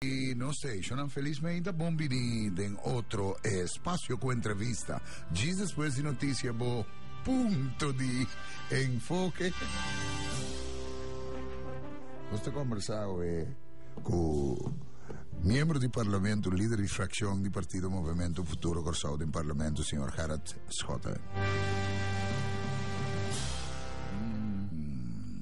Y nos stationnan felizmente a bon bini den otro espacio cu entrevista. Djis despues di noticia bo punto di enfoke. Nos ta conversa awe cu miembro di parlamento, lider di fraccion di partido Movimiento Futuro Corsao den parlamento, señor Gerard Schotten. Mm.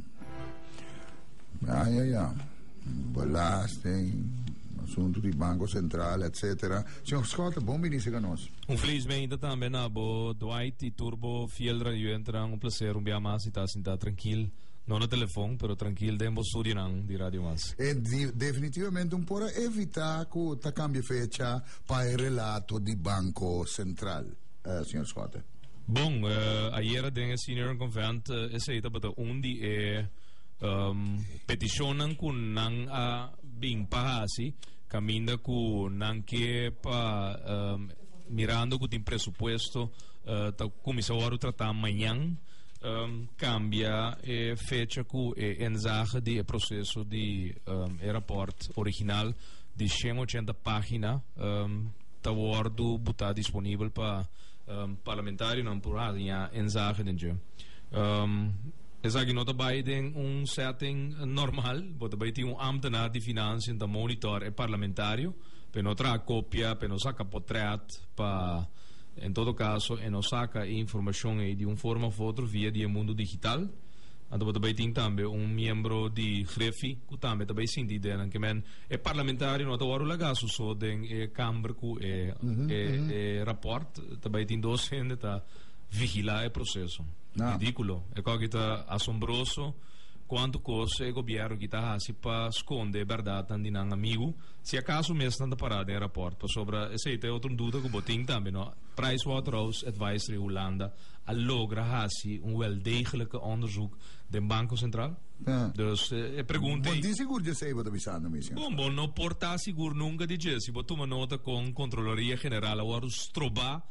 Ah, ja, ja. Belasting, asuntu di Banko Sentral, etc. Señor Scott, bon binici ca nos. Un feliz meinte tambe na bo Dwight y tur bo fiel radioentenan. Un placer un bia mas y ta sinta trankil, no na telefon, pero trankil den bo studionan di Radio Mas. E di definitivamente un por a evita cu ta cambia fecha pa e relato di Banko Sentral, señor Scott. Bon, ayera den e Senior Convent esey tabata un di e. um, peticionnan cu nan a bin pa hasi caminda cu nan que pa um, mirando cu tin presupuesto uh, ta comisa ora tratar mañan um, cambia e fecha cu e enzaje di e proceso di um, e rapport original di 180 pagina um, ta wordo buta disponibel pa um, parlamentario nan por hasi enzaje den um, Esaki no ta bai den un setting normal, bo ta bai tin un ambtenaar di financiën ta monitor e parlamentario p'e no traha copia, p'e no saca potret, pa en todo caso e no saca e informacion ey di un forma of otro via di e mundo digital. Anto bo ta bai tin tambe un miembro di Griffy cu tambe ta bai sinti idea nan kemen e parlamentario no ta wor ula gaso so den e camber cu e e e rapport ta bai tin dos hende ta vigila e proceso. Nah. Ridículo. E coge ta asombroso cuanto cos e gobierno aki ta haci pa sconde e berdadnan di nan amigo. Si acaso mes nan ta para den rapport pasobra esey ta e otro duda cu bo tin tambe, no? Price Waterhouse Advisory Hulanda a logra haci un weldegelijke onderzoek den Banco Centraal? Nah. Dus e pregunta ey. Bo tin sigur dje esey bo ta bisa no mes, Señor? Bon, bo no por ta sigur nunca di dje. Si bo tuma nota con Controloria General a wordo stroba.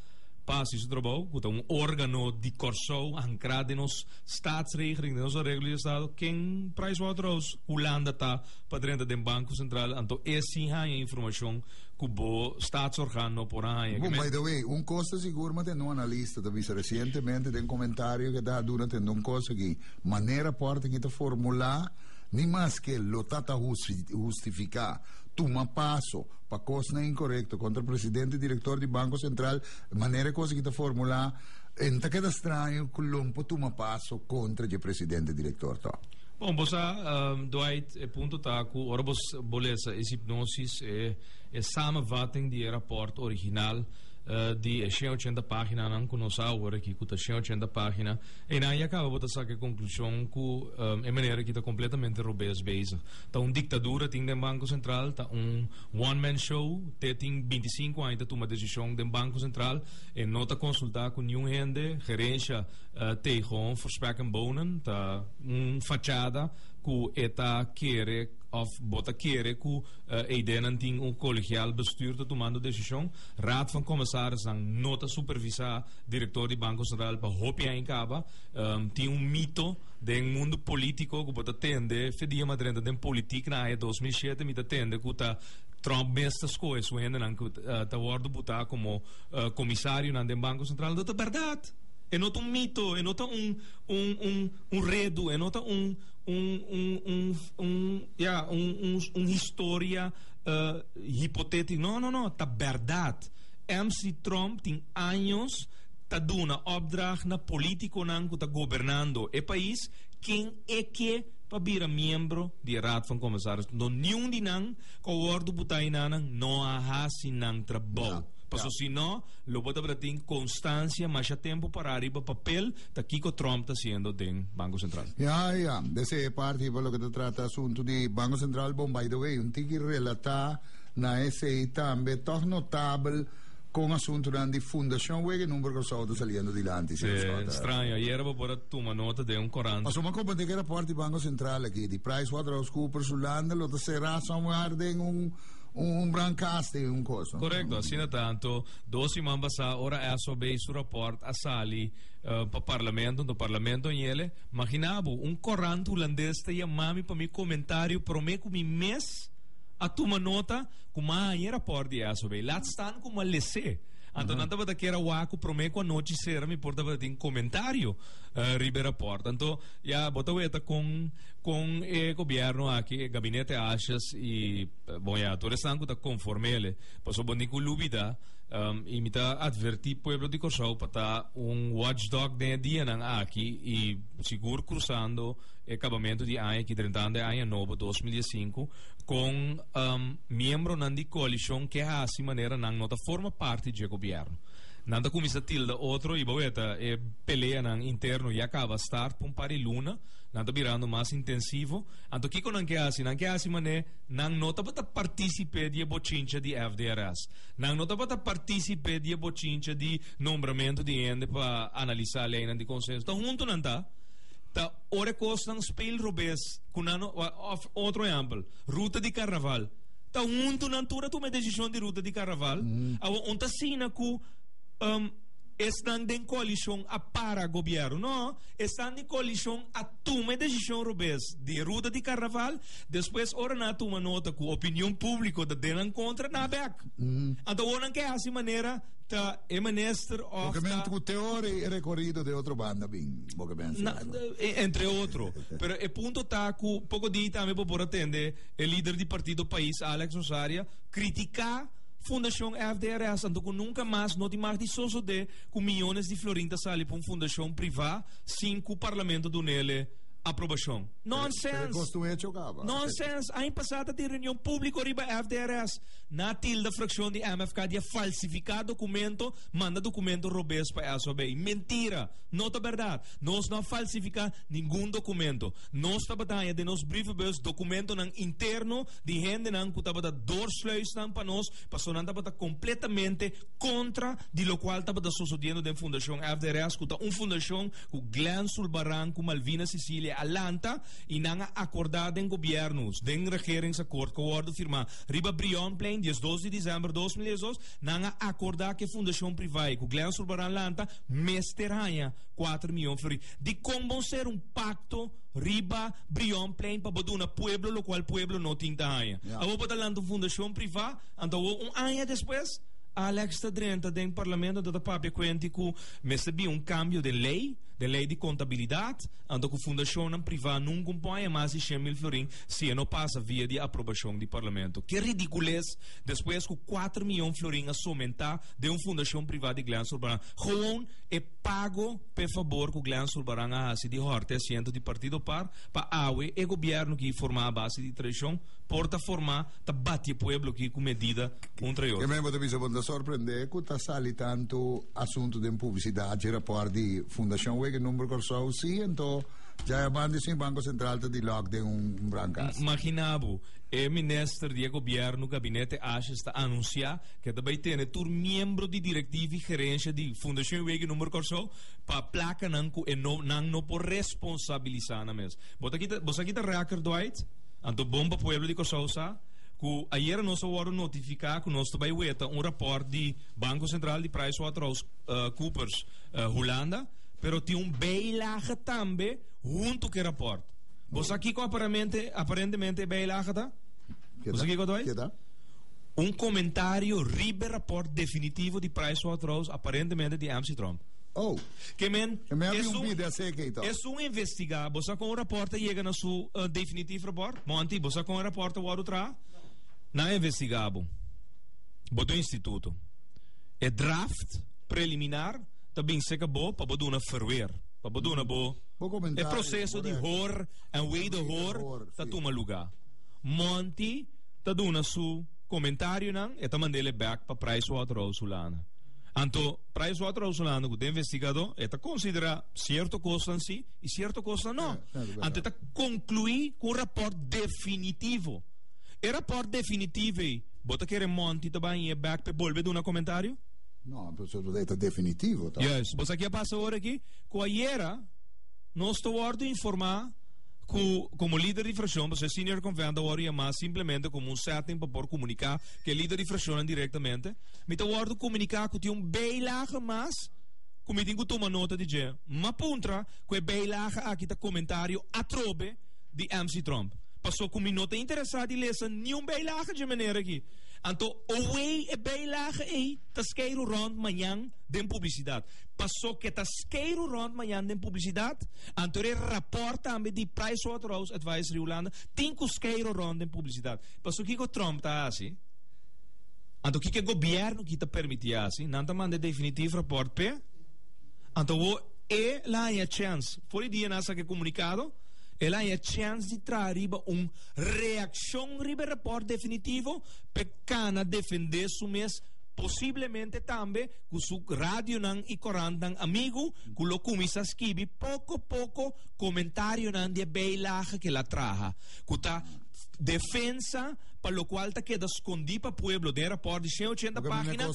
Pa hasi su trabou, ku ta un órgano di Kòrsou ankrá den nos Staatsregeling, den nos areglo di estado, ken Pricewaterhouse Hulanda ta pa drenta den Banko Sentral, anto e si haña informashon ku bo Staatsorgaan no por a haña. Bo, by the way, un kos ta sigur maten un analista ta bisa resientemente den komentario ku e ta duna tende un kos aki, manera pòrta aki ta formulá, ni mas ke lo ta ta hustifiká tuma paso, pa kosnan inkorekto kontra presidente i direktor di Banko Sentral, manera e kos aki ta formulá, e no ta keda straño ku lom por tuma paso kontra dje presidente i direktor tò. Bon, bo sa, Dwight, e punto ta ku ora bo bo lesa e sipnosis, e e samenvatting di e rapòrt original di e shen ochenta paginanan ku nos a oor aki, ku ta shen ochenta pagina, einan ya kaba bo ta saka e konklushon ku e manera aki ta kompletamente robes bezig. Ta un diktadura tin den Banko Sentral, ta un one man show, te tin binti sinku aña ta tuma desishon den Banko Sentral, e no ta konsultá ku niun hende, gerensha Teigon, Forspeck en Bohnen, ta un fachada ku e ta kere òf bo ta kere ku e ideanan tin un kolegial bestür ta tumando desishon, Raad van Kommesarisnan no ta supervisá direktor di Banko Sentral pa hopi aña kaba, tin un mito. Den mundo politico cu bo ta tende fe dia ma drenta den politic na aña dos mil shete mi ta tende cu ta Trump mes ta scohe su hendenan cu ta wordo buta como comisarionan den Banco Central do ta berdad e no ta un mito e no ta un un un un redu e no ta un un un un un ya un un un historia hipotetica no no no ta berdad MC Trump tin años ta duna opdracht na politiconan cu ta gobernando e pais ken e ke pa bira miembro di e Raad van Commissaris. Nto niun di nan cu a wordo buta enanan no a haci nan trabou. Paso si no, lo bo tabata tin constancia masha tempo para riba papel ta kico Trump ta haciendo den Banco Central. Ya, ya. Desde e parti pa loke ta trata asunto di Banco Central, bon, by the way, un tiki relata na esey tambe, toch notabel, Con asuntonan di fundacion wek e number Curaçao ta saliendo dilanti. Sí, extraño. Ayer bo por tuma nota den un corant. Paso ma compa de rapport di Banco Central aki, di PricewaterhouseCoopers Hulanda lo ta será somewhere den un un brancaas de un cosa. Correcto, asina tanto. Dos siman basa ora SOB su rapport a sali uh, pa parlamento, do parlamento yele. Maginabo, un corant Hulandes te yamami pa mi comentario prome ku mi mes a tuma nota ku mañera por di eso bay laat staan ku ma lese anto nan tabata kier a wak ku prome ku anochi sera mi por tabata tin komentario riba e raport anto ya bo ta weta kon kon e gobierno aki e gabinete ashas i bon ya tur esnan ku ta konforme ele paso bo ni ku lubida i mi ta atverti pueblo di Kòrsou pa ta un wòch dòg den e dianan aki i sigur krusando e kabamentu di aña aki drentando e aña nobo dos mil i e sinku. Con miembronan di coalicion ke haci manera nan no ta forma parti dje gobierno? Nan ta cuminsa tilda otro y bo weta e peleanan interno ya caba start pa un par di luna, nan ta birando mas intensivo. Anto kico nan ke haci? Nan ke haci mane nan no tabata participe di e bochincha di FDRS. Nan no tabata participe di e bochincha di nombramento di hende pa analisa leynan di consenso. Ta hunto nan ta. Ora e kosnan speel robes ku nan no, òf otro ehèmpel, ruta di karnaval. Ta huntu nan tur a tuma e desishon di ruta di karnaval. Awa un ta asina ku esnan den koalishon a para gobièrnu. Nò, esnan di koalishon a tuma e desishon robes di e ruta di karnaval, despues ora nan a tuma nota ku opinion públiko ta den nan kontra, nan a bèk. Anto awor nan ke hasi manera. ta e menister of ta. Bo ke mens ku teori e rekorido den otro banda bin bo ke mens na entre otro pero e punto ta ku poko di tambe bo por a tende e lider di partido pais Alex Osaria kritika fundashon FDRS anto ku nunka mas no tin mag di sosode ku miyones di florin ta sali pa un fundashon priva sin ku parlamento dunele aprobashon nonsens nonsens aña pasado ta tin reunion publiko riba FDRS. Na tilda frakshon di MFK di e falsifiká dokumento, manda dokumento robes pa SOB. Mentira! No ta bèrdat! Nos no a falsifiká ningun dokumento. Nos ta bataña den nos brievebus dokumentonan interno di hendenan ku tabata doorsluisnan pa nos pasobra nan tabata kompletamente kontra di lokual tabata sosodiendo den Fundashon FDRS ku ta un fundashon ku Glen Sulbaran ku Malvina Sicilia a lanta i nan a akordá den gobièrnu den regeringsakòrt ku a wòrdu firmá Riba Brion Plein diesdos di december dos mil diesdos nan a acorda cu e fundacion priva e cu Glen Zurbarán lanta mester haya cuater miyon flori. Dicon bo ser un pacto riba Brion Plein pa bo duna pueblo locual pueblo no tin ta haya? Yeah. Abo bo ta lanta un fundacion priva anto bo un aña despues Alex ta drenta den parlamento anto ta papia cuenti cu mester bin un cambio den ley, den ley di contabilidad, anto cu fundacionnan priva nunca un por haya mas di cien mil florin si e no pasa via di aprobashon di parlamento. Ke ridikulez despues ku kuater miyon florin a somentá den un fundashon privá di Glen Zurbarán, gewoon e pago pa e fabor ku Glen Zurbarán a hasi di hòrte asiento di partido par pa awe e gobièrnu ki formá a base di traishon por ta formá ta bati e pueblo aki ku medida un tra e otro. Kemey bo ta bisa bon ta sorprendé ku ta sali tantu asuntu den publisidat i rapòrt di fundashon wege number Kòrsou si anto Dja e man di sin Banco Central ta di lock den un brangas. Magina bo, e minister di e gobierno gabinete Ashes ta anuncia ke ta bay tene tur miembro di directiva y gerencia di Fundacion Weghi Number Corsou pa placa nan cu e no nan no por responsabiliza nan mes. Bo ta kita bo sa kita reaker Dwight? Anto bon pa pueblo di Corsou sa cu ayera nos a wordo notifica cu nos ta bay weta un rapport di Banco Central di Price Waterhouse Coopers Hulanda Pero tin un bijlaga tambe huntu ku e raport. Bo sa kiko aparamente, aparentemente e bijlaga ta? Ke Bo sa ta? kiko ta bai? Ke ta? Un komentario riba e raport definitivo di Pricewaterhouse, aparentemente di MC Trump. Oh, Ke men, e men a es un, rumpí de asé kei to. es un investigá. Bo sa kon e raport a yega na su eh, definitief raport? Monty, bo sa kon e raport a wòrdu traha? Nan a investigá bo. Bo ta un instituto. E draft preliminar ta bin cerca bo pa bo duna verweer, pa bo duna bo e proceso di hoor en wederhoor ta tuma luga. Monty ta duna su comentarionan, e ta manda el e bek pa Prijswaterhousehollande. Anto Prijswaterhousehollande cu den investigado e ta considera cierto cosnan si y cierto cosnan no. Anto e ta conclui cu un rapport definitivo. E rapport definitivo ey, bo ta kere Monty ta bay e bek pa e bolbe duna comentario? No, bo sa e ta definitivo ta. Juist, bo sa ki a pasa ora aki? Ku ayera nos ta wòrdu informá ku komo lider di frakshon pasobra e Senior Konvènt a wòrdu yamá simplemente komo un sèting pa por komuniká ku e lider di frakshonnan direktamente. Mi ta wòrdu komuniká ku tin un bijlaga mas ku mi tin ku tuma nota di dje. M'a puntra ku e bijlaga aki ta komentario atrobe di MC. Trump. Pasobra ku mi no ta interesá di lesa niun bijlaga dje manera aki. Anto away e bijlage ey ta skeiru rond mañan den publicidad. Paso ke ta skeiru rond mañan den publicidad, anto e rapport tambe di Pricewaterhouse Advisory Hulanda tin ku skeiru rond den publicidad. Paso kiko Trump ta hasi? Anto kiko e gobierno aki ta permiti hasi? Nan ta manda e definitiv rapport p'e? Anto awo e la haña chèns, for e dia nan a saka e komunikado, e la haña chèns di traha riba un reaccion riba e rapport definitivo pe cana defende su mes posiblemente tambe cu su radionan y corantnan amigo cu lo cuminsa skibi poco poco comentarionan di e bijlage cu el a traha cu ta defensa pa lo cual ta keda scondi pa pueblo den e rapport di shen ochenta pagina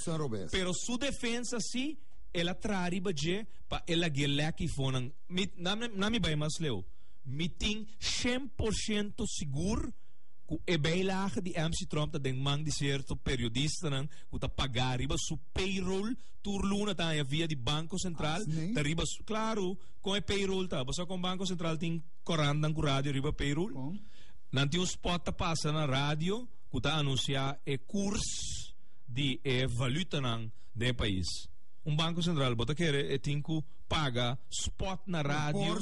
pero su defensa si el a traha riba dje pa el lag'e lek y fonan mi na mi bay mas Leo. Mi tin shen por shento sigur ku e bijlaga di MC Trump ta den man di sierto periodistanan ku ta pagá riba su payroll tur luna ta haña via di Banko Sentral ta riba su. Klaru, kon e payroll ta? Bo sa kon Banko Sentral tin korandanan ku radio riba e payroll? Nan tin un spot ta pasa na radio ku ta anunsiá e kurs di e valutanan den e pais. Un Banko Sentral bo ta kere e tin ku. paga spot na radio.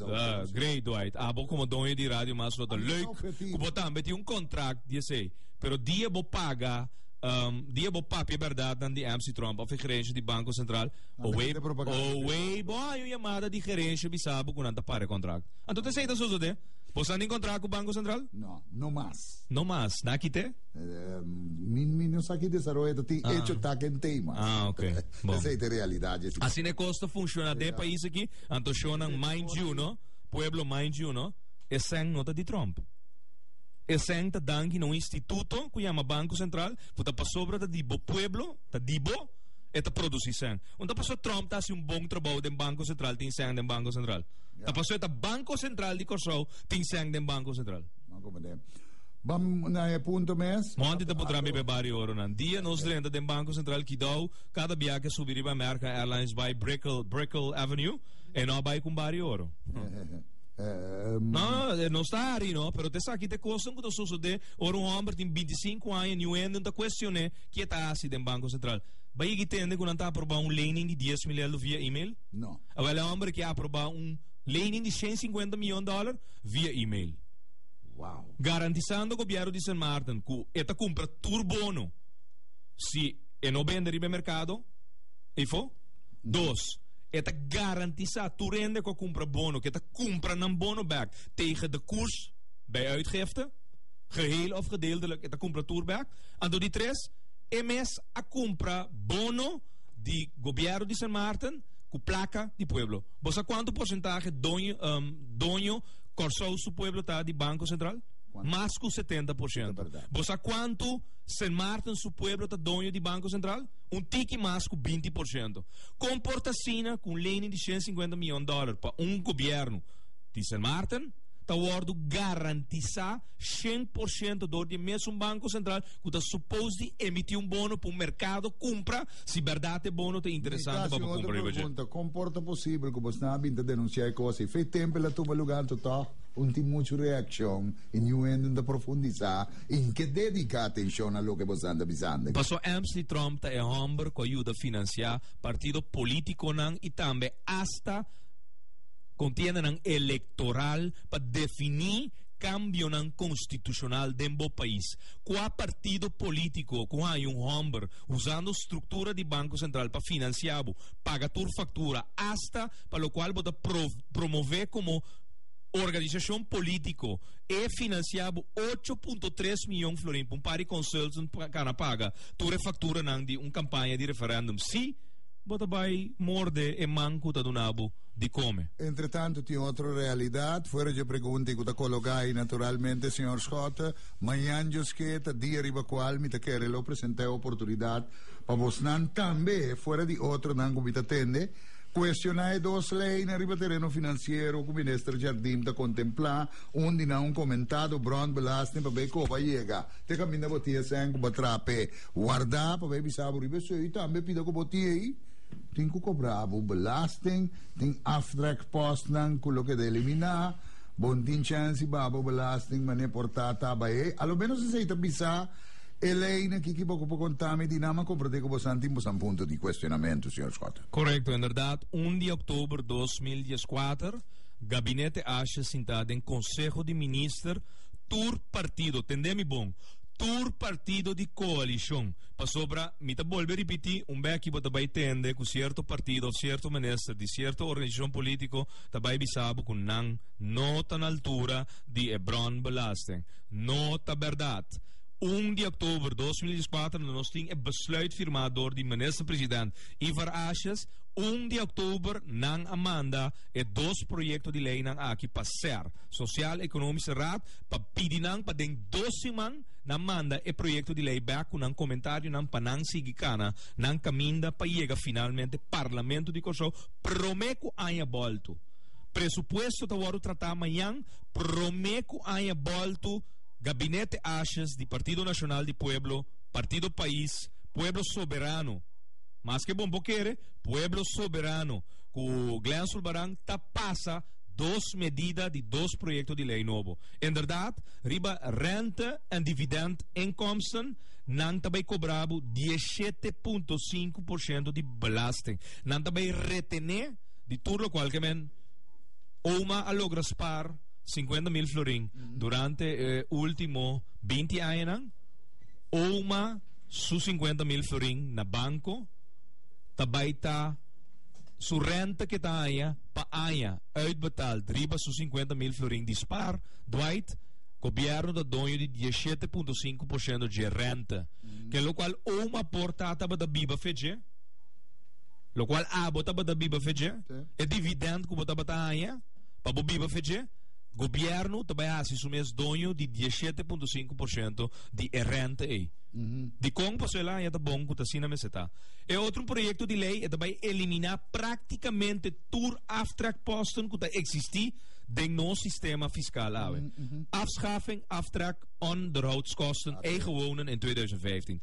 Uh, great, Dwight. Abo como doño di radio mas lo leuk. Kubo tambe ti un contract die sei. Pero die bo paga um, die bo papia verdad dan di MC Trump of gerencia di Banco Central. Owe, owe, bo hay un llamada di gerencia bisabo kunan ta pare contract. Anto te sei ta soso de? Bo san in contract ku Banco Central? No, no mas. No mas, na kite? Um, min min no saki desarrollo ti ah. hecho ta kentei mas. Ah, okay. Bon. Esei ta e realidad dje ciudad. Asina e cos ta funciona den e pais aki, anto shonan mind you no, pueblo mind you no, eseng no ta di Trump. Eseng ta danki na un instituto cu yama Banco Central cu ta pasobra ta di bo pueblo, ta di bo, e ta produci seng. Un ta paso Trump ta haci un bon trabao den Banco Central tin seng den Banco Central. Ta paso e ta Banco Central di Corsou tin seng den Banco Central. Monti ta por traha mi be bario oronan. Dia nos drenta den Banco Central Kidao, cada biaca subi riba American Airlines bai Brickell Avenue, e no a bai cu un bario oro. No, e no sta ari no, pero ta esaki ta e cosnan cu ta sosode ora un homber tin binti i sinku aña niu hende ta cuestion'e ki e ta haci den Banco Central. Bo a yega y tende cu nan ta aproba un lening di dies mil eldo via email? Awel e homber aki a aproba un lening di shen sinkuenta miyon dollar, via email. Wow. Garantisando gobierno di Sint Maarten cu e ta cumpra tur bono si e no bende riba mercado, e fo. Dos, e ta garantisa tur ende cu cumpra bono, que ta cumpra nan bono back tegen de koers bij uitgifte, geheel of gedeeltelijk, e ta cumpra tur back. Anto di tres, e mes a cumpra bono di gobierno di Sint Maarten cu placa di pueblo. Bosa cuanto porcentaje doño, um, Doño, Kòrsou su pueblo ta di Banko Sentral? Mas ku setenta por shento. Bo sa kuantu Sen Maarten su pueblo ta doño di Banko Sentral? Un tiki mas ku binti por shento. Kon por ta asina ku un lening di shen sinkuenta miyon dòler pa un gobièrnu di Sen Maarten ta wòrdu garantisá shen por shento dor di e mesun Banko Sentral ku ta supos di emití un bono pa un merkado kumpra Si berdad e bono te interesante pa bo compra riba dje. Con por ta posible cu bo sna bin ta denuncia e cosa y fe tempo el a tuma lugar anto toch un tin mucho reaccion y niuendo ta profundiza y n'ke dedica atencion na loke bo sna ta bisando. Paso m's di Trump ta e homber cu a yuda financia partido politiconan y tambe hasta contiendanan electoral pa defini cambionan constitucional den bo pais. Cua partido politico cu haña un homber usando struktura di Banko Sentral pa finansiá bo, paga tur faktura, asta pa lokual bo ta pro promové komo organisashon polítiko. E finansiá bo ocho punto tres miyon florin pa un par di konsultants pa kana paga tur e fakturanan di un kampaña di referèndum. Sí, bo ta bai morde e man ku ta duna bo di kome. Entretanto, tin otro realidat fuera dje pregunta i ku ta kologá ei, naturalmente, señor Schotten, Mañan dioske ta dia riba kual mi ta kere lo presentá e oportunidat pa bosnan tambe, fuera di otronan ku mi ta tende, kuestioná e dos leinan riba tereno finansiero ku Minister Jardim ta kontemplá, un di nan un komentado bròntbelasting pabia e koba yega te kaminda bo tin esèn ku bo a traha p'e wardá pabia e bisa bo riba esei i tambe pida ku bo tiei tin ku kobrá bo belasting, tin aftrek pòstnan ku loke ta eliminá. Bo no tin chèns di baba bo belasting manera por ta ta bai ei. A lo ménos esei ta bisa e leinan kiko bo ku por konta mi di nan, ma komprendé ku bosan tin bosan punto di kuestionamentu, señor Schotten. Korekto, inderdat, un di oktober dos mil dies kuater Gabinete Ashe sintá den Konseho di Minister tur partido, tendé mi bon, tur partido di koalishon, pasobra mi ta bolbe ripití un bèki bo ta bai tende ku sierto partido òf sierto minister di sierto organisashon polítiko ta bai bisa bo ku nan no ta na altura di e brònbelasting. No ta bèrdat. Un di oktober dos mil dieskuater no nos tin e besluit firmá dor di Minister President Ivar Asjes. Un di oktober nan a manda e dos proyekto di leinan aki pa ser Sosial Ekonomiese Raad pa pidi nan pa den dos siman nan manda e proyekto di lei bèk ku nan komentarionan pa nan sigui kana nan kaminda pa yega finalmente Parlamento di Kòrsou prome ku aña boltu. Presupuesto ta wòrdu tratá mañan prome ku aña boltu Gabinete Ashes di Partido Nacional di Pueblo, Partido Pais, Pueblo Soberano, maske bon por kere, Pueblo Soberano, ku Glen Zulbarán ta pasa dos medida di dos proyekto di lei nobo. Inderdat, riba rente en dividend inkomsten, nan ta bai kobrá bo diesshete punto sinku por shento di belasting. Nan ta bay retené di tur lokual ke men oma a logra spaar sinkuenta mil florin durante e último binti añanan. Oma su sinkuenta mil florin na banko ta bay ta su rènta ke ta haña pa aña uitbetaald riba su sinkuenta mil florin di spaar. Dwight, Gobièrnu ta doño di dies shete punto sinku por shento dje rènta, ke lokual oma por ta tabata biba fe dje. Lokual abo tabata biba fe dje, e dividend ku bo tabata haña pa bo biba fe dje, gobièrnu ta bai hasi su mes doño di dieschete punto sinku por shento di e rente ei. Dikon paso el a haña ta bon ku ta asina mester ta? E otro proyekto di lei e ta bai eliminá praktikamente tur aftrekposten ku ta eksistí den nos sistema fiskal awe, afschaffing, aftrek, onderhoudskosten, eigen wonen en tweeduizend vijftien.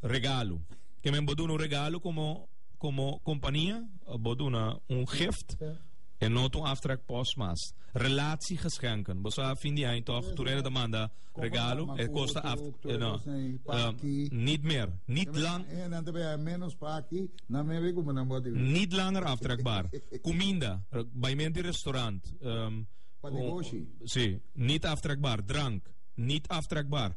Regalo. Ke men bo duna un regalo komo komo kompania? Bo duna un gift en no ta un aftrek pos mas. Relatiegeschenken. Bo sa fin di aña tòg tur hende ta manda regalo e kosta aft no nit mer nit lang nit langer aftrekbaar. Kuminda, bai men di restaurant, si, nit aftrekbaar. Drank, nit aftrekbaar.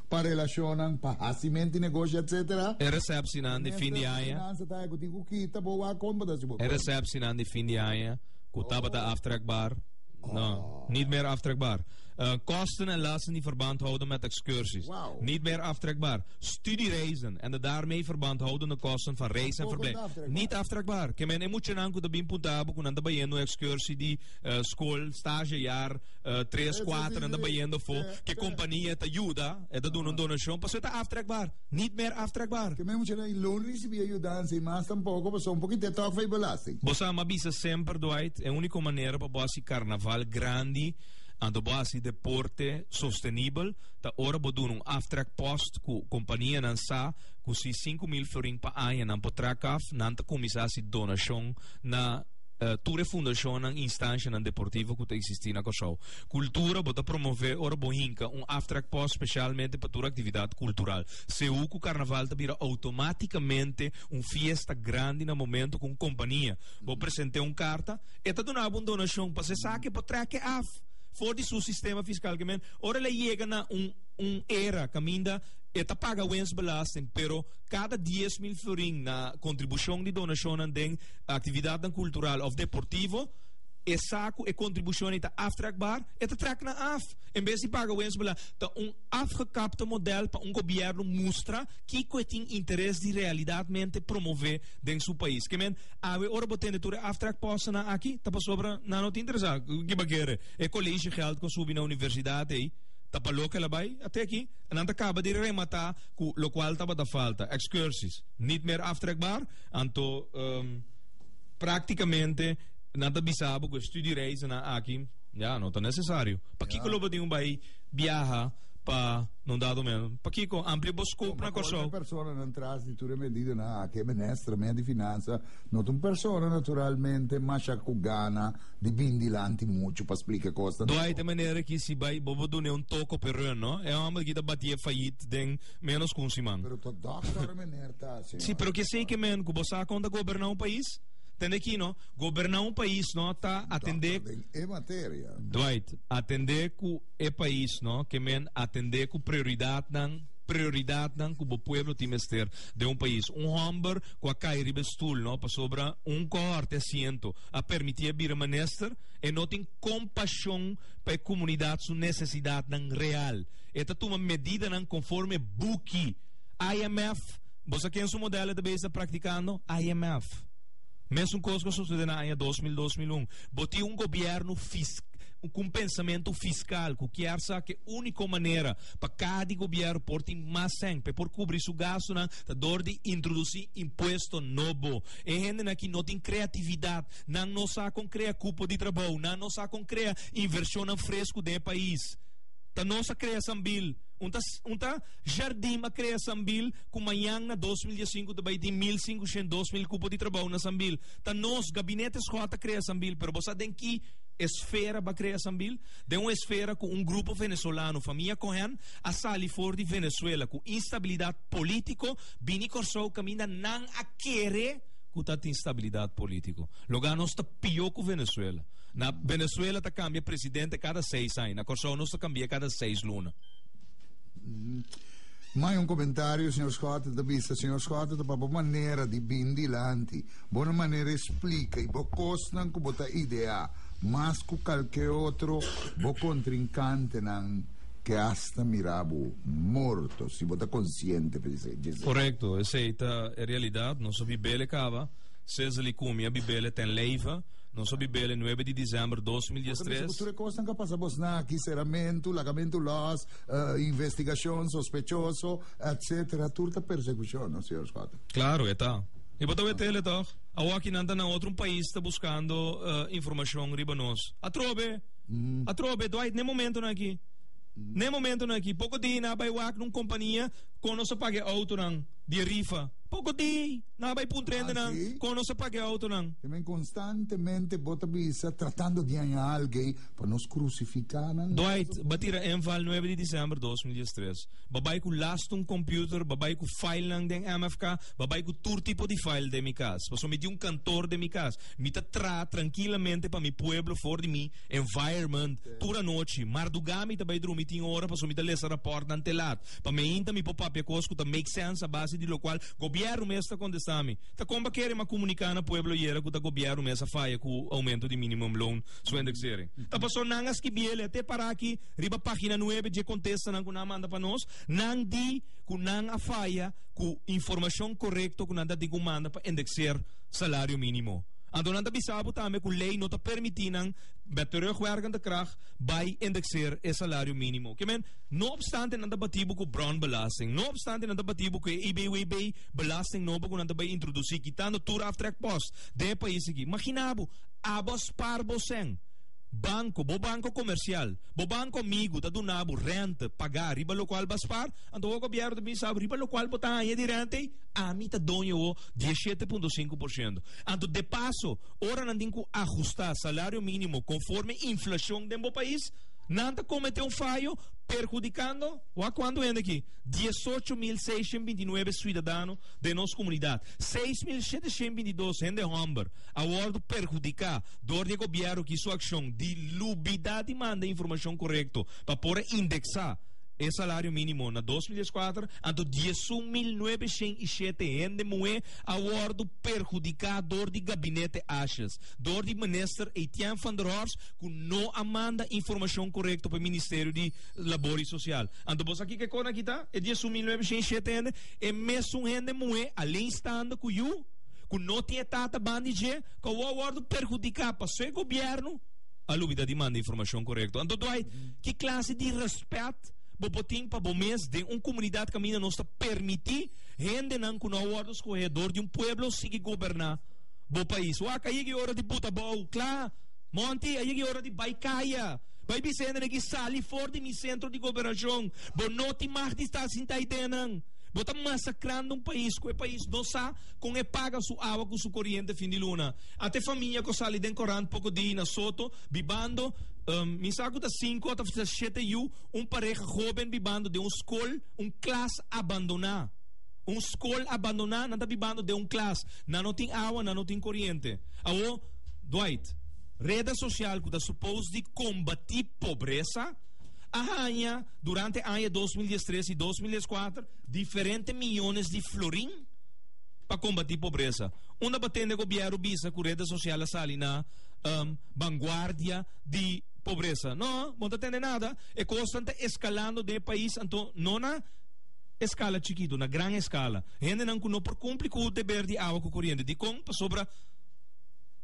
pa relashonnan, pa hasi menti, negoshi, etc. E resèpsinan di fin di aña. E resèpsinan di fin di aña ku tabata aftrekbaar, no, niet meer aftrekbaar. Kosten en lasten die verband houden met ekskursies, niet meer aftrekbaar. Studiereizen en de daarmee verband houdende kosten van reis en verblijf, niet aftrekbaar. Ke men e muchanan ku ta bin punta abo ku nan ta bayendo ekskursie di skool, stagejaar. eh, tres, cuatro, anda bayendo fo. Que compañía te ayuda, eh, te duna un donación, pues está aftrekbaar. Niet meer aftrekbaar. Que men mucha y loan recibe ayudanza y más tampoco, pues un poquito toch fai belasting. Bosa ma bisa semper Dwight, e único manera pa bosi carnaval grandi, ando bosi deporte sostenibel, ta ora bo doen un aftrek post ku compañía nan sa ku si 5 mil florin pa aña nan po trak af, nan ta comisasi donación na tur e fundashonnan, instanshanan deportivo ku ta eksistí na Kòrsou. Kultura bo ta promové ora bo hinka un aftrekpòs spesialmente pa tur aktividat kultural. Seú ku karnaval ta bira outomátikamente un fiesta grandi na momentu ku un kompania bo present'é un karta, e ta duna bo un donashon pas esaki bo trèk'é af for di su sistema fiskal kemen. Ora el a yega na un un era kaminda e ta paga wens belasting pero kada dies mil florin na kontribushon di donashonnan den actividadnan cultural of deportivo, e sa cu e contribucion ei ta aftrekbaar, e ta trek nan af. En bes di paga wens belang, ta un afgekapte model pa un gobierno mustra kico e tin interes di realidadmente promove den su pais. Ke men, awe ora bo tende tur e aftrekpostennan aki, ta pasobra nan no ta interesa. Kiba kere? E collegegeld con subi na universidad ei, ta pa loke el a bay? A teki, nan ta caba di remata cu locual tabata falta, excursies, niet meer aftrekbaar. Anto, práktikamente nan ta bisa bo ku e studiereizennan aki ya no ta nesesario. Pakiko lo bo tin bai biaha pa no dado meno? Pakiko amplia bo skop na Kòrsou? Personanan tras di tur e medidanan aki, e minister mea di Finansa no ta un persona naturalmente masha ku gana di bini dilanti muchu pa splika kosnan. Dwight, e manera aki si bai bo bo dun'é un tok op e rùn, no? E hòmber aki ta batié fayit den ménos ku un siman. Pero ta dòkter e meneer ta. Si, pero ki esei ki men ku bo sa kon ta goberná un pais? Tende aki no, goberná un pais no ta atendé den e materia. Dwight, Atendé ku e pais no ke men atendé ku prioridatnan, prioridatnan ku bo pueblo tin mester den un pais. Un hòmber ku a kai riba e stul no pasobra un kohòrti asiento a permití a bira minister, e no tin kompashon pa e komunidat su nesesidatnan real. E ta tuma medidanan konforme buki. IMF, bo sa ken su model e ta bes ta praktikando? IMF. Mesun kos ku a susedé na aña dos mil, dos mil un. Bo tin un gobièrnu fis ku un pensamentu fiskal ku kier sa ku e úniko manera pa kada di gobièrnu por tin mas sèn, pa e por kubrí su gastunan, ta dor di introdusí impuesto nobo. E hendenan aki no tin kreatividat. Nan no sa kon krea kupo di trabou. Nan no sa kon krea invershonnan fresku den e pais. Ta nos a krea sambil. Un ta, un ta. Jardim a krea Sambil ku mañan na dos mil diasinku ta bai tin mil sinkushen dos mil kupo di trabou na Sambil. Ta nos, Gabinete Schot ta krea Sambil, pero bo sa den ki esfera ba krea Sambil? Den un esfera ku un grupo Venezolano, famia Cohen, a sali for di Venezuela ku instabilidat politiko bini Kòrsou kaminda nan a kere ku ta tin stabilidat politiko. Loga nos ta pió ku Venezuela. Na Venezuela ta kambia presidente kada seis aña, na Kòrsou nos ta kambi'é kada seis luna. Mai un comentario, señor Scott, de vista, señor Scott, de papo manera di bin dilanti, bona manera explica y bo cosnan cu bota idea, mas cu calke otro bo contrincantenan que hasta mirabo morto, si bota consciente, Gisela. Correcto, esey ta e realidad, nos a bibele caba, seseli cumia bibele ten leiva. Nos a bibel e nuebe di december dos mil diestres. Bo ta bisa ku tur e kosnan ka pasa bo sna aki, seramentu, lagamentu lòs, investigashon sospechoso, etsetera, tur ta persekushon, no señor Schotten? Klaro, e ta. I bo ta wet ele, tòg? Awo aki nan ta na otro un pais ta buskando informashon riba nos. Atrobe! Atrobe! Dwight, n'e momentonan aki, n'e momentonan aki, poko di na bai wak na un kompania kon nos a paga e outonan di e rifa. Poko di! Nan a bai puntra hende nan kon nos a paka e outonan. Te men konstantemente bo ta bisa tratando di haña algu pa nos krusifiká nan. Dwight ba tira inval nuebe di disember dos mil dies tres. Ba bai ku lasta un kòmpiuter, ba bai ku filenan den MFK, ba bai ku tur tipo di file den mi kas. Pasobra mi tin un kantor den mi kas, mi ta tra trankilamente pa mi pueblo for di mi environment tur anochi. Mardugá mi ta bai drumi tin ora pasobra mi ta lesa rapòrtnan te lat pa mi ainda mi por papia kos ku ta make sense a base di lokual Gobierno mes ta contesta mi. Ta con ba kere ma comunica na pueblo yera cu ta gobierno mes a faya cu aumento di minimum loan su indexering? Ta paso nan a skibiele a te para aki riba pagina nuebe dje contesta nan cu nan a manda pa nos. Nan di cu nan a faya cu informacion corecto cu nan ta tin cu manda pa indexer salario minimo. Anto nan ta bisa bo tambe cu ley no ta permiti nan met terugwerkende kracht bay indexer e salario minimo. Ke men. No opstante nan ta batí bo ku Brown Belasting. No opstante nan ta batí bo ku e IBWB belasting nobo ku nan ta bai introdusí kitando tur aftrekpost den e pais aki. Maginá bo, abo spaar bo sèn. Banko, bo banko komersial, bo banko amigu ta duna bo rènte pagá riba lokual bo a spaar, anto bo gobièrnu ta bisa bo riba lokual bo ta haña di rènte ei, ami ta doño bo dies shete punto sinku por shento. Anto depaso, ora nan tin ku ahustá salario mínimo konforme inflashon den bo pais, Nan ta komete un fayo perhudikando, wak kuantu hende aki, diesocho mil seishent binti nuebe suidadano den nos komunidat, seis mil sheteshent binti dos hende hòmber a wòrdu perhudiká dor di e gobièrnu aki su akshon di lubidat di manda informashon korekto pa por a indeksá e salario mínimo na dos mil dieskuater. Anto diesun mil nuebeshent i shete hende muhé a wòrdu perhudiká dor di gabinete Ashes, dor di Minister Etienne van der Horst, ku no a manda informashon korekto pa e Ministerio di Labor i Sosial. Anto bo sa kiko e kos aki ta? E diesun mil nuebe shenta i shete hende, e mesun hende muhé alén stando ku yu, ku no tin e tata ban di dje, ku awor a wòrdu perhudiká pasobra e gobièrnu a lubidá di manda informashon korekto. Anto Dwight, ki klase di rèspèt bo por tin pa bo mes den un komunidat kaminda nos ta permití hendenan ku no a wòrdu skohé dor di un pueblo sigui goberná bo pais? Wak a yega e ora di buta abou kla! Monty, a yega e ora di bai kaya. Bai bisa hende aki, Sali for di mi sentro di gobernacion. Bo no tin mag di sta sinta ei deenan. Bo ta masacrando un pais cu e pais no sa con e paga su awa cu su coriente fin di luna. A te famia cu a sali den corant poco di na Soto bibando, mi sa cu ta cinco o ta shete yu, un pareha hoben bibando den un scol, un clas abandona. Un scol abandona, nan ta bibando den un clas. Nan no tin awa, nan no tin coriente. Awo. Dwight, Reda sosial ku ta supos di kombatí pobresa a haña durante aña dos mil dies tres i dos mil dies kuater diferente miyones di florin pa kombatí pobresa. Unda pa tende gobièrnu bisa ku reda sosial a sali na banguardia di pobresa? No, bo no ta tende nada. E kosnan ta eskalando den e pais anto no na eskala chikitu, na gran eskala. Hendenan ku no por kumpli ku deber di awa ku koriente. Dikon? Pasobra.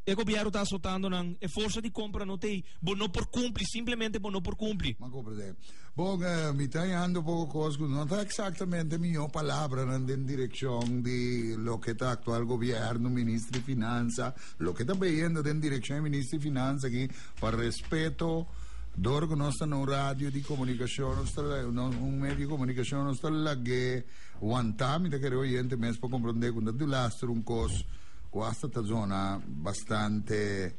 E gobièrnu ta asotando nan. E forsa di kompra no ta ei. Bo no por kumpli. Simplemente bo no por kumpli. M'a komprendé. Bon, mi ta heando poko kos ku no ta eksaktamente mihó palabranan den direkshon di loke ta aktual gobièrnu, minister di Finansa, loke ta beyendo den direkshon di minister di Finansa aki, pa respeto, dor ku nos ta na un radio di komunikashon, nos ta la, na un medio di komunikashon, nos ta lag'é wantá. Mi ta kere oyente mes por komprendé ku no ta dulaster un kos. ku asta ta zona bastante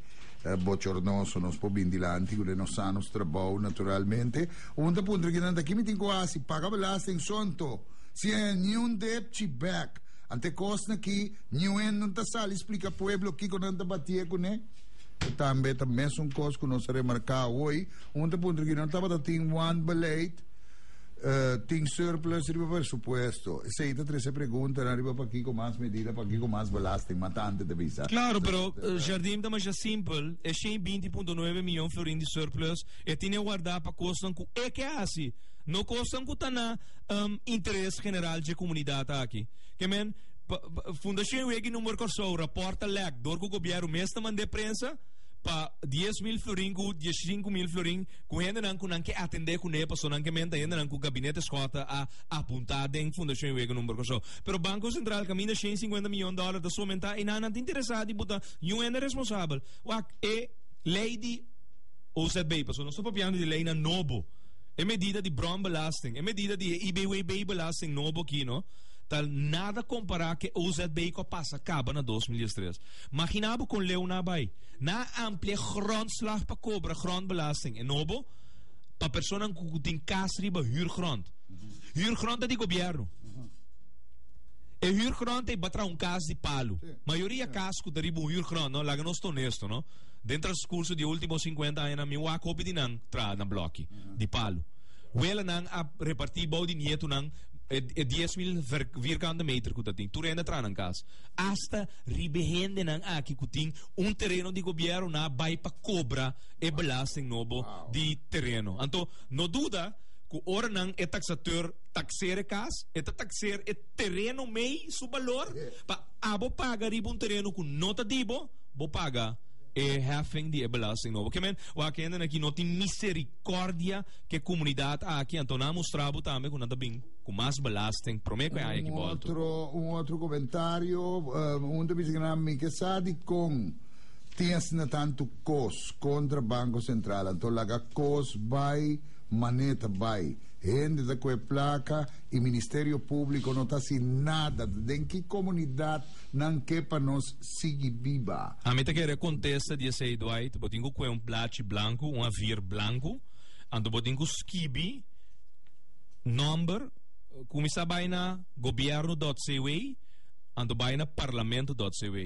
bochornoso nos por bin dilanti ku den nos sa nos trabou naturalmente u nan ta puntra kinan ta ki mi tin ku hasi paga belasting sònto si e niun dep chi bèk ante kosnan ki niuen nan ta sali splika pueblo kiko nan ta batié kuné i tambe ta mesun kos ku nos a remarká awor un ta puntra kinan tabata tin wan beleid. Uh, tin surplus riba presupuesto. Sei ta trece pregunta na riba pa kiko mas medida, pa kiko mas belasting, ma tante te bisa. Claro, pero uh, eh, Jardim ta masha simpel. E 120.9 miljoen florin di surplus, e tine guarda pa kosnan ku e ke hasi. No kosnan ku ta na um, interes general je komunidat aki. Ke men, Fundacion Wegi Number Korsou, raporta lek, dor ku gobiero mes ta mande prensa, pa 10 mil florin ku 15 mil florin ku hendenan ku nan ke atendé kuné paso nan ke menta hendenan ku gabinete Schotten a apuntá den Fundashon e Wega Number Kòrsou. Pero Banko Sentral kaminda shen sinkuenta miyon dòler ta sumentá i nan nan ta interesá di buta yu hende responsabel. Wak e lei di OZB, paso nos ta papiando di leinan nobo, e medida di brònbelasting, e medida di e IBWB-belasting nobo aki no ta nada kompará ku e OZB ku a pasa kaba na dos mil diestres. Maginá bo kon leu nan a bai. Nan a ampliá grondslag pa kobra grondbelasting enobo pa personanan ku tin kas riba hürgrond. Hürgrond ta di gobièrnu. E hürgrond ta iba tra un kas di palu. Mayoria kas ku ta riba un hürgrond, no, laga nos ta onesto, no, den transkurso di e último sinkuenta añanan mi wak hopi di nan traha na blòki di palu. Welanan a repartí bou di nietunan e dies mil vierkante meter ku ta tin. Tur hende a traha nan kas. Asta Riba e hendenan aki ku tin un tereno di gobièrnu nan a bai pa kobra e belasting nobo di tereno. Anto no duda ku ora nan e taksateur takseer e kas e ta takseer e tereno mei su balor pa abo paga riba un tereno ku no ta di bo bo paga e heffing di e belasting nobo. Ke men wak e hendenan aki no tin miserikòrdia ku e komunidat aki anto nan a mustra bo tambe ku nan ta bin. ku mas belasting promé ku e haya ki bolto. Un otro komentario, un ta bisa nan mi ke sa dikon tin asina tantu kos kontra Banko Sentral anto laga kos bai mané ta bai. Hende ta kohe plaka i Ministerio Públiko no ta hasi nada. Den ki komunidat nan ke pa nos sigui biba? Ami ta kere kontesta di esei Dwight, bo tin ku kohe un blachi blanku, un avir blanku, anto bo tin ku skibi, Nòmber kuminsá bai na gobièrnu.cw anto bai na parlamento.cw.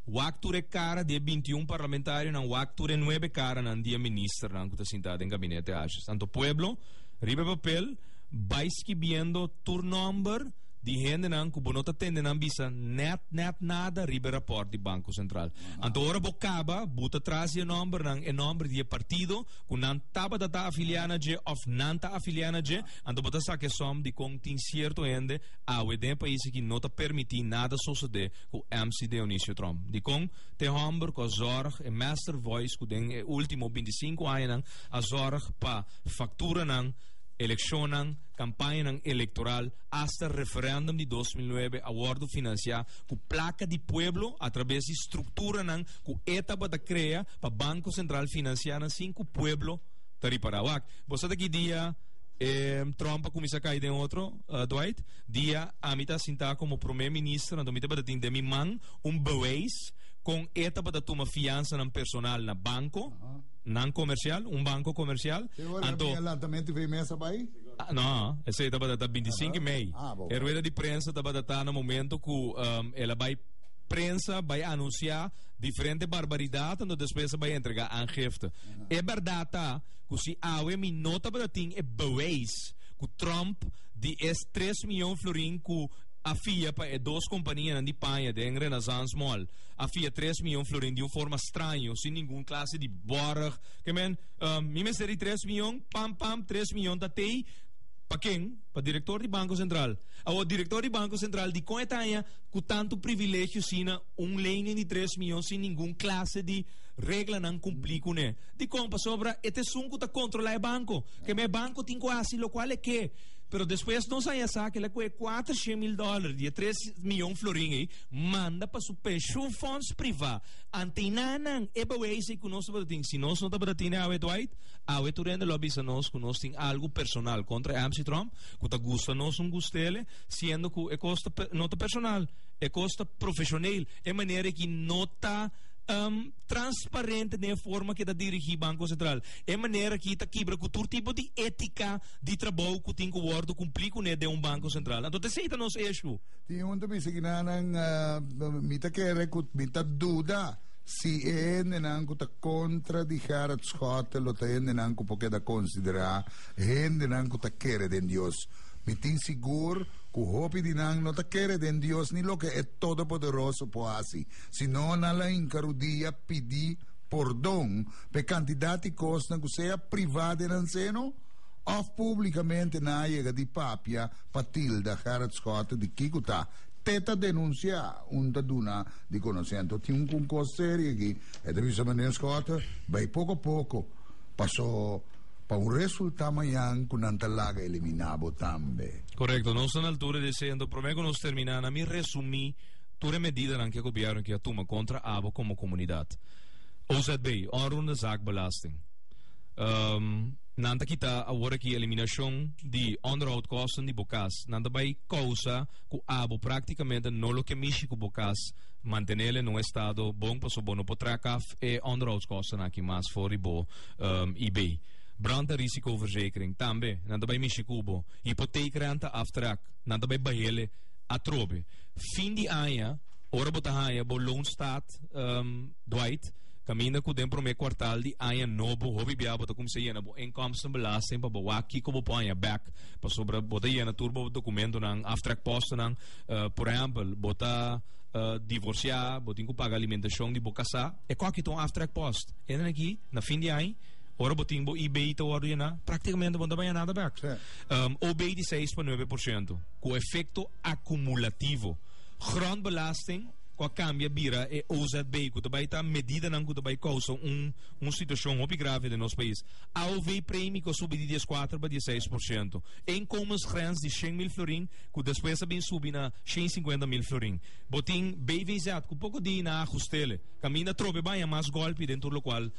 Wak tur e kara di e binti i un parlamentarionan, wak tur e nuebe karanan di e ministernan ku ta sintá den gabinete ashis. Anto pueblo, riba e papel bai skibiendo tur nòmber di hendenan ku bo no ta tende nan bisa nèt, nèt nada riba e rapòrt di Banko Sentral. Anto ora bo kaba buta tras di e nòmbernan, e nòmber di e partido, cu nan tabata ta afilia na dje of nan ta afilia na dje, anto bo ta sa ke som di con tin cierto hende awe den e pais aki no ta permiti nada sosode cu MC Deonicio Trom. Dicon? T'e homber cu a zorg, e master voice cu den e ultimo binti sinku añanan a zorg pa facturanan, eleccionnan, campañanan electoral, hasta referendum di dos mil nuebe a wordo financia cu placa di pueblo a traves di structuranan cu e tabata crea, pa Banco Central financia nan sin cu pueblo ta ripara. Wak, bo sa ta ki dia e trompa cuminsa cay den otro, uh, Dwight? Dia ami ta sinta como Prome Minister, anto mi tabata tin den mi man un bewijs con e tabata tuma fiansa nan personal na banco, Aha. nan comercial, un banco comercial, Te hoor, anto... heb je lanzamento van je mesa bij? Ah, no, ese tabata ta 25 mei. Ah, bo. E rueda di prensa tabata ta na momento cu um, ela bay prensa bay anuncia Diferente barbaridat anto despues a bai entrega aangifte. E berdad ta cu si awe mi no tabata tin e bewijs cu Trump di es tres miyon florin cu a fia pa e dos companianan di paña den Renaissance Mall, a fia tres miyon florin di un forma straño, sin ningun clase di borg, ke men, ehm, mi mester e tres miyon, pam pam, tres miyon ta tei, Pa ken? Pa director di Banco Central. Awor, director di Banco Central, dikon e ta haña cu tantu privilegio asina? Un lening di tres miyon sin ningun klase di reglanan kumplí kuné. Dikon? Pasobra e ta esun ku ta kontrolá e banko. Kemey e banko tin ku hasi lokual e ke. Pero despues nos a yasa kila ku e kuater shen mil dòler di e tres miyon florin ei manda pa su penshunfòns privá. Antenanan e beweisei ku nos tabata tin. Si nos no tabata tin e awe Dwight, awe Turende lo a bisa nos ku nos tin algu personal kontra e Amshitromp ku ta gusta nos un gustele, siendo ku e kos ta no ta personal. E kos ta profeshoneel, e manera aki no ta transparente den e forma ke ta dirigí Banko Sentral. E manera aki ta kibra ku tur tipo di étika di trabou ku tin ku wòrdu kumplí kuné den un Banko Sentral. Anto esei ta nos eshu. Tin un tabisa ki nannan mi ta kere ku mi ta duda si e hendenan ku ta kontra di Gerhard Schotten lo ta hendenan ku por keda konsiderá hendenan ku ta kere den Dios. Mi tin sigur. ku hopi di nan no ta kere den Dios ni loke e Todopoderoso por hasi, sino nan la hinka rudia pidi pordon pa e kantidat di kosnan ku sea privá den nan seno òf públikamente nan a yega di papia pa tilda Gerrit Schotte di kiko ta te ta denunsiá un ta duna di konosé. Anto tin un kos serie aki, e ta bisa meneer Schotte bai poko a poko pa so pa un resulta mañan cu nan ta laga elimina bo tambe. Correcto, nos ta na altura di e sento, prome cu nos termina na mi resumi tur e medidanan cu e gobierno kia tuma contra abo como comunidad. OZB, Onroerende Zaak Belasting. Nan ta kita awor aki eliminacion di onderhoudkosten di bo cas. Nan ta bay causa cu abo practicamente no lo ke mishi cu bo cas, mantenel en un estado bon, pasobra bo no por track af e onderhoudskostennan aki mas for di bo. um, i bay. Brand ta risicoverzekering tambe, nan ta bay mishi cubo. Hypotheekrente aftrek, nan ta bay bahele atrobe. Fin di aña, ora bo ta haya bo loonstaat um, dwight, caminda cu den prome kwartaal di aña nobo, hopi bia bo ta kumsa yena bo inkomstenbelasting pa bo wa kiko bo por haya back, pasobra bo ta yena tur bo documentonan, aftrekpostennan, uh, por ehempel, bo ta uh, divorcia, bo tin cu paga alimentacion di bo casa, e koki ta un aftrekpost. Esnan aki na fin di aña, ora bo tin bo eBay ta wòrdu yená, práktikamente bo no ta baña nada bèk. O bay di seis pa nuebe por siento, ku efekto akumulativo. Grondbelasting ku a kambia bira e OZB, ku ta bai ta medidanan ku ta bai kousa un un situashon hopi grave den nos pais. AOV premi ku a subi di dies kuater pa dies seis por siento. E inkomensgrens di shen mil florin ku despues a bin subi na shen i sinkuenta mil florin. Bo tin BVZ ku poko di na Agustele. Caminda trobe baña mas golpi den tur locual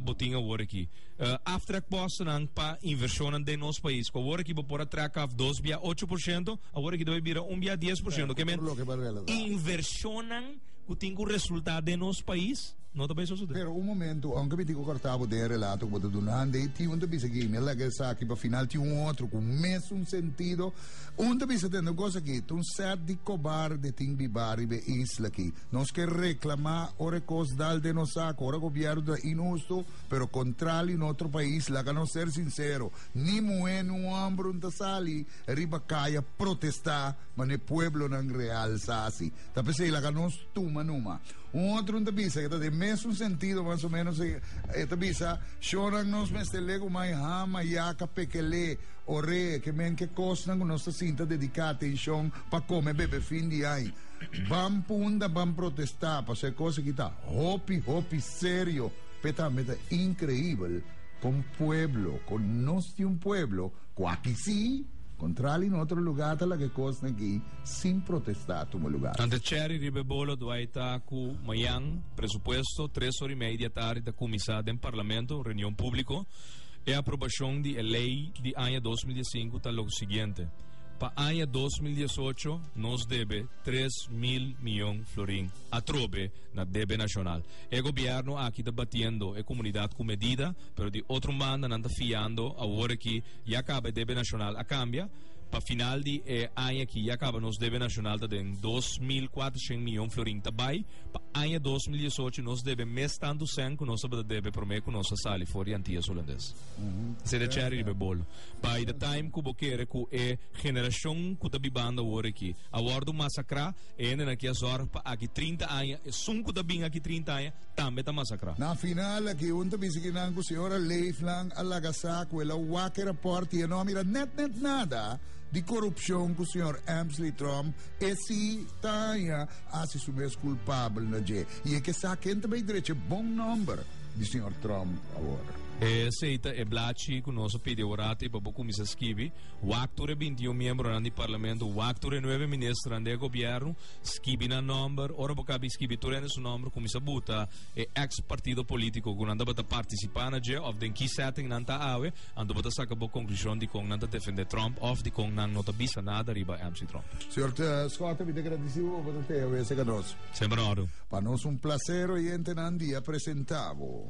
bo tin awor aki. Aftrek postennan pa inversionnan den nos pais, cu awor aki bo por a trek af dos bia ocho por ciento, awor aki debe bira un bia dies por ciento. Ke men inversionnan cu tin cu resulta den nos pais no ta bay sosode. Pero un momento, aunke mi tin cu corta bo den e relato cu bo ta duna ande, e tin un ta bisa aki, mi a laga esaki pa final tin un otro cu mesun sentido. Un ta bisa tende un cos aki, ta un set di cobarde tin biba riba e isla aki. Nos ke reklamá ora e kos dal den nos sak, ora gobièrnu ta inhustu, pero kontrá li notro pais, laga nos ser sinsero, ni muhé ni un òmbru no ta sali riba kai a protestá manera pueblonan real sa hasi. Ta p'esei laga nos tuma numa. Un otro un ta bisa ke ta den mesun sentido mas o menos, e ta bisa, Shonnan nos mester legu mai hama, yaka, pekel'é, or'é, ke men ke kosnan ku nos ta sinta dediká atenshon pa kome bebe fin di ai. Ban punta, ban protesta paso e cos aki ta hopi hopi serio, pe tambe ta increibel con pueblo, con nos tin un pueblo cu aki si, contrali na otro lugar ta laga e cosnan aki sin protesta tuma lugar. Nan ta cherry riba e bolo dwai ta cu mayan presupuesto tres ora y media di e tardi ta cuminsa den Parlamento un reunion publico. E aprobacion di e ley di aña dos mil diasincu ta lo siguiente. Pa aña dos mil diesocho nos debe tres mil miyon florin atrobe na debe nashonal. E gobièrnu aki ta batiendo e komunidat ku medida, pero di otro banda nan ta fiando awor aki ya kaba e debe nashonal a kambia. Pa final di e aña aki ya kaba nos debe nashonal ta den dos mil kuatroshen miyon florin ta bai. Pa aña dos mil diesocho nos debe mes tantu sèn ku nos tabata debe promé ku nos a sali for di Antias Hulandes. Sede chèri riba e bolo. By the time cu bo kere cu e generacion cu ta bibando awor aki a wordo masacra, e hendenan aki a zorg pa aki trinta aña, esun cu ta bin aki trinta aña tambe ta masacra. Na final aki un ta bisa aki nan cu Señora Leeflang a laga sa cu el a wak e rapport y e no a mira net net nada di corupcion cu Señor Emsley Tromp, e si, ta haña, a haci su mes culpabel na dje. Y e ke sa ken ta bay drecha e bon nomber. di señor Trump awor. Esey ta e blachi cu nos a pidi ora te pa bo cuminsa skibi, wak tur e binti i un miembronan di Parlamento, wak tur e nuebe ministernan den e gobierno, skibi nan nomber, ora bo caba di skibi tur hende su nomber, cuminsa buta e ex partido politico cu nan tabata participa na dje of den ki setting nan ta awe, anto bo ta saca bo conclusion di con nan ta defende Trump of di con nan no ta bisa nada riba MC. Trump. Señor Scott, mi ta agradeci bo pa bo ta teha wese ca nos. Semper en orde. Pa nos un placer oyentenan di a presenta bo.